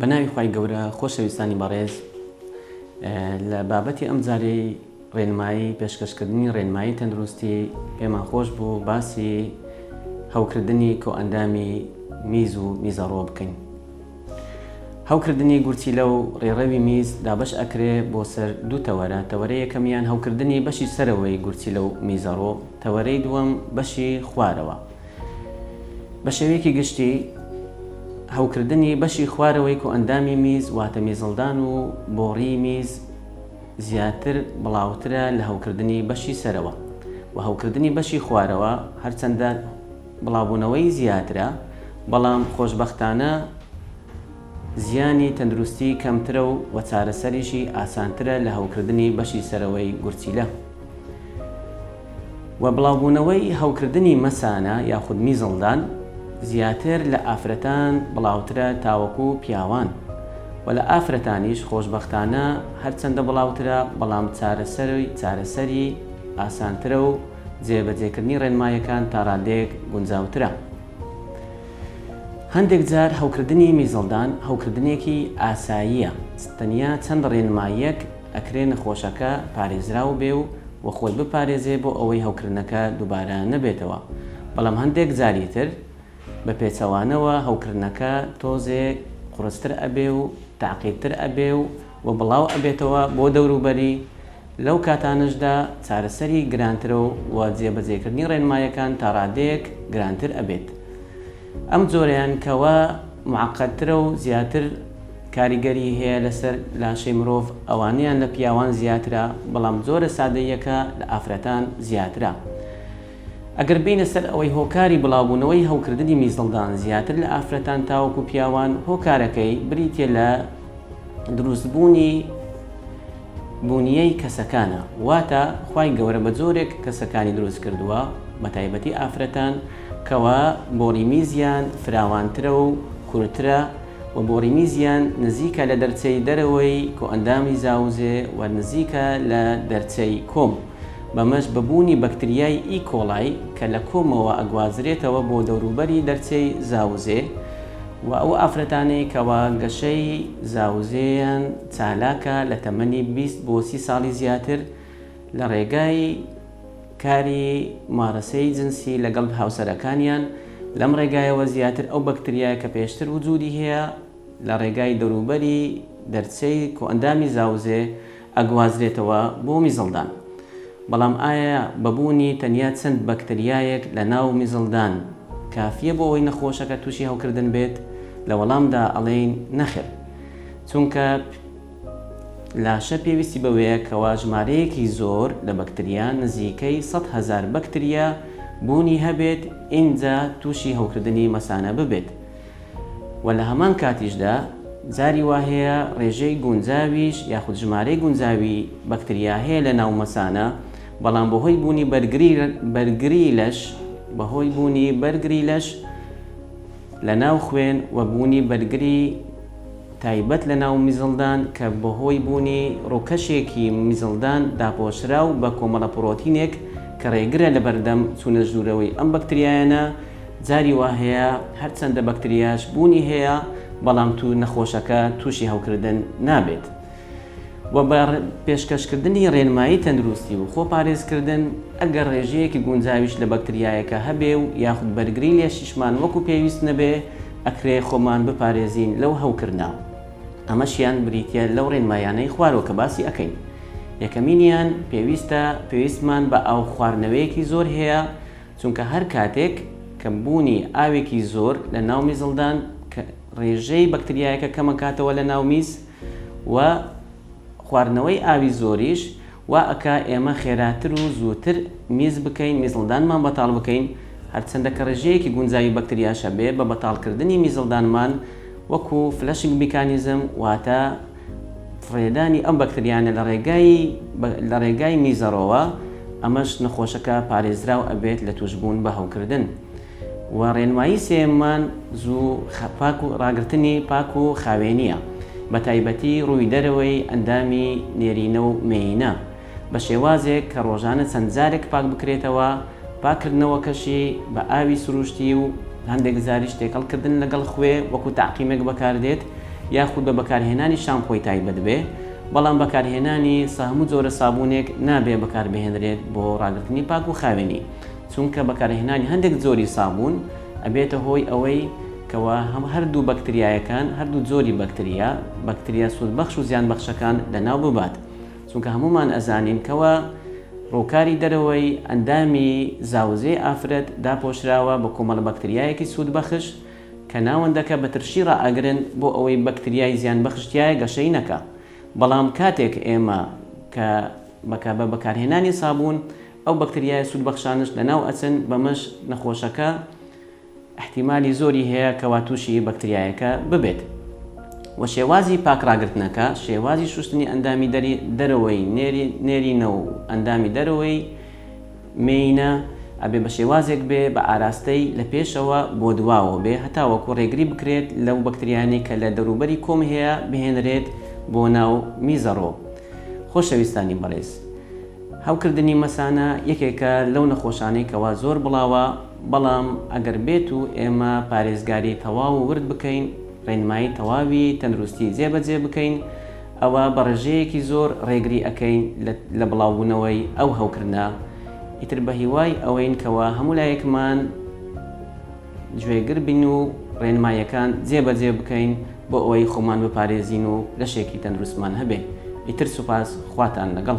بە ناوی خی گەورە خۆشەویستانی بەڕێز لە بابەتی ئەم جارەی ڕێنمایی پێشکەشکردنی ڕێنمایی تەندروستی پێمان خۆش بوو باسی هەوکردنی کۆئەندامی میز و میزەڕۆ بکەین هەوکردنی گورچیلە و ڕێڕەوی میز دابەش ئەکرێ بۆ سەر دوو تەوەرە، تەوەرەی یەکەمیان هەوکردنی بەشی سەرەوەی گورچیلە و میزەڕۆ، تەوەرەی دووەم بەشی خوارەوە. بە شێوەیەکی گشتی هەوکردنی بەشی خوارەوەی کۆئەندامی میز واتە میزەڵدان و بۆڕی میز زیاتر بڵاوترە لە هەوکردنی بەشی سەرەوە و هەوکردنی بەشی خوارەوە هەرچەندە بڵاوبوونەوەی زیاترە، بەڵام خۆشبەختانە زیانی تەندروستی کەمترە و چارەسەریشی ئاسانترە لە هەوکردنی بەشی سەرەوەی گورچیلە و بڵاوبوونەوەی هەوکردنی مەسانە یاخود میزڵدان زیاتر لە ئافرەتان بڵاوترە تاوەکو پیاوان و لە ئافرەتانیش خۆشبەختانە هەرچەندە بڵاوترە بەڵام چارەسەری چارەسەری ئاسانترە و جێبەجێکردنی ڕێنماییەکان تا ڕادەیەک گونجاوترە. هەندێک جار هەوکردنی میزەڵدان هەوکردنێکی ئاساییە، تەنیا چەند ڕێنماییەک ئەکرێ نەخۆشەکە پارێزراو بێ و و خۆی بپارێزێ بۆ ئەوەی هەوکردنەکە دووبارە نەبێتەوە، بەڵام هەندێک جاری تر بە پێچەوانەوە هەوکردنەکە تۆزێ قورستر ئەبێ و تەعقیدتر ئەبێ و و بڵاو ئەبێتەوە بۆ دەوروبەری، لەو کاتانەشدا چارەسەری گرانترەو و جێبەجێکردنی ڕێنمایەکان تاڕادەیەک گرانتر ئەبێت ئەم جۆرەیان کەوا معقدترەو زیاتر کاریگەری هەیە لەسەر لاشەی مرۆڤ ئەوانەیان لە پیاوان زیاترە بەڵام جۆرە سادەییەکە لە ئافرەتان زیاترە ئەگەر بینە سەر ئەوەی هۆکاری بڵاوبونەوەی هەوکردنی میزڵدان زیاتر لە ئافرەتان تاوەکو پیاوان هۆکارەکەی بریتیە لە دروستبونی بونیەی کەسەکانە واتە خوای گەورە بەجۆرێک کەسەکانی دروست کردووە بەتایبەتی ئافرەتان کەوا بۆڕیمیزیان فراوانترە و کورترە و بۆڕیمیزیان نزیکە لەدەرچەی دەرەوەی کۆئەندامی زاوزێ و نزیکە لە دەرچەی کۆم بەمەش بەبوونی بەکتریای ئیکۆڵای کە لەکۆمەوە ئەگوازرێتەوە بۆ دەوروبەری دەرچەی زاوزێ و ئەو ئافرەتانەی کەوا گەشەی زاوزێیان چالاکە لە تەمەنی بیست بۆ سی ساڵی زیاتر لە ڕێگای کاری مارەسەی جنسی لەگەڵ هاوسەرەکانیان لەم ڕێگایەوە زیاتر ئەو بەکتریایە کە پێشتر وجودی هەیە لە ڕێگای دەوروبەری دەرچەی کۆئەندامی زاوزێ ئەگوازرێتەوە بۆ میزڵدان بەڵام ئایا بە بوونی تەنیا چەند بەکتریایەک لە ناو میزڵدان کافیە بۆ ئەوەی نەخۆشەکە توشی هەوکردن بێت لە وەڵامدا ئەڵێین نەخێر چونکە لاشە پێویستی بەوەیە کەوا ژمارەیەکی زۆر لە بەکتریا نزیکەی سەد هەزار بەکتریا بوونی هەبێت ئینجا تووشی هەوکردنی مەسانە ببێت و لە هەمان کاتیشدا جاری وا هەیە ڕێژەی گونجاویش یاخود ژمارەی گونجاوی بەکتریا هەیە لە ناو مەسانە بەڵام بەهۆی بوونی بەرگری لەش بەهۆی بوونی بەرگری لەش لەناو خوێن و بوونی بەرگری تایبەت لەناو میزڵدان کە بەهۆی بوونی ڕووکەشێکی میزڵدان داپۆشراو بە کۆمەڵە پرۆتینێک کە ڕێگرە لەبەردەم چوونە ژوورەوەی ئەم بەکتریایانە جاری وا هەیە هەرچەندە بەکتریاش بوونی هەیە بەڵام تو نەخۆشەکە تووشی هەوکردن نابێت و بە پێشکەشکردنی رێنمایی تەندروستی و خۆپارێزکردن، ئەگەر رێژەیەکی گونجاویش لە بەکتریایەکە هەبێ و یاخود بەرگری لێشیشمان وەکو پێویست نەبێ، ئەکرێ خۆمان بپارێزین لەو هەوکردنە. ئەمەشیان بریتیە لەو رێنمایانەی خوارەوە کە باسی ئەکەین. یەکەمینیان، پێویستە پێویستمان بە ئاو خواردنەوەیەکی زۆر هەیە، چونکە هەر کاتێک کەم بوونی ئاوێکی زۆر لە ناو میزڵدان کە رێژەی بەکتریایەکە کەمەکاتەوە لە ناو میز، و خواردنەوەی ئاوی زۆریش وا ئەکا ئێمە خێراتر و زووتر میز بکەین، میزڵدانمان بەتاڵ بکەین، هەرچەندە کە ڕێژەیەکی گونجاوی بەکتریاش هەبێ بە بەتاڵکردنی میزڵدانمان وەکو فلەشنگ میکانیزم واتە فڕێدانی ئەم بەکتریانە لە ڕێگای لە ڕێگای میزەڕۆوە ئەمەش نەخۆشەکە پارێزراو ئەبێت لە تووشبوون بە هەوکردن. و ڕێنمایی سێیەممان زوو پاک و ڕاگرتنی پاک و خاوێنییە بە تایبەتی ڕووی دەرەوەی ئەندامی نێرینە و مێینە بە شێوازێک کە ڕۆژانە چەند جارێک پاک بکرێتەوە پاک کردنەوەکەشی بە ئاوی سروشتی و هەندێک جاریش تێکەڵ کردن لەگەڵ خوێ وەکو تەعقیمێک بەکاردێت یاخود بە بەکارهێنانی شامپۆی تایبەت بێ بەڵام بەکارهێنانی سە هەموو جۆرە سابونێک نابێ بەکاربهێنرێت بۆ ڕاگرتنی پاک و خاوێنی چونکە بەکارهێنانی هەندێک جۆری سابوون ئەبێتە هۆی ئەوەی کەوا هەم هەردوو بەکتریایەکان هەردوو جۆری بەکتریا بەکتریا سوودبەخش و زیانبەخشەکان لەناو ببات چونکە هەموومان ئەزانین کەوا ڕووکاری دەرەوەی ئەندامی زاوزێی ئافرەت داپۆشراوە بە کۆمەڵە بەکتریایەکی سوودبەخش کە ناوەندەکە بە ترشی ڕائەگرن بۆ ئەوەی بەکتریای زیانبەخش تیایە گەشەی نەکا بەڵام کاتێک ئێمە کە بەکا بە بەکارهێنانی سابوون ئەو بەکتریایە سوودبەخشانەش لەناو ئەچن، بەمەش نەخۆشەکە ئیحتیمالی زۆری هەیە کەوا تووشی بەکتریایەکە ببێت. وە شێوازی پاک ڕاگرتنەکە، شێوازی شووشتنی ئەندامی دەری دەرەوەی نێری نێرینە و ئەندامی دەرەوەی مێینە ئەبێ بە شێوازێک بێ بە ئاراستەی لە پێشەوە بۆ دواوە بێ هەتاوەکوو ڕێگری بکرێت لەو بەکتریانەی کە لە دەوروبەری کۆم هەیە بهێنرێت بۆ ناو میزەڕۆ. خۆشەویستانی بەڕێز. هەوکردنی مەسانە یەکێکە لەو نەخۆشانەی کەوا زۆر بڵاوە، بەڵام ئەگەر بێت و ئێمە پارێزگاری تەواو و ورد بکەین، ڕێنمایی تەواوی تەندروستی جێ بە جێ بکەین، ئەوا بە ڕێژەیەکی زۆر ڕێگری ئەکەین لە لە بڵاوبوونەوەی ئەو هەوکردنە، ئیتر بە هیوای ئەوەین کەوا هەموو لایەکمان. گوێگر بین و ڕێنماییەکان جێ بەجێ بکەین بۆ ئەوەی خۆمان بپارێزین و لەشێکی تەندروستمان هەبێ. ئیتر سوپاس، خواتان لەگەڵ.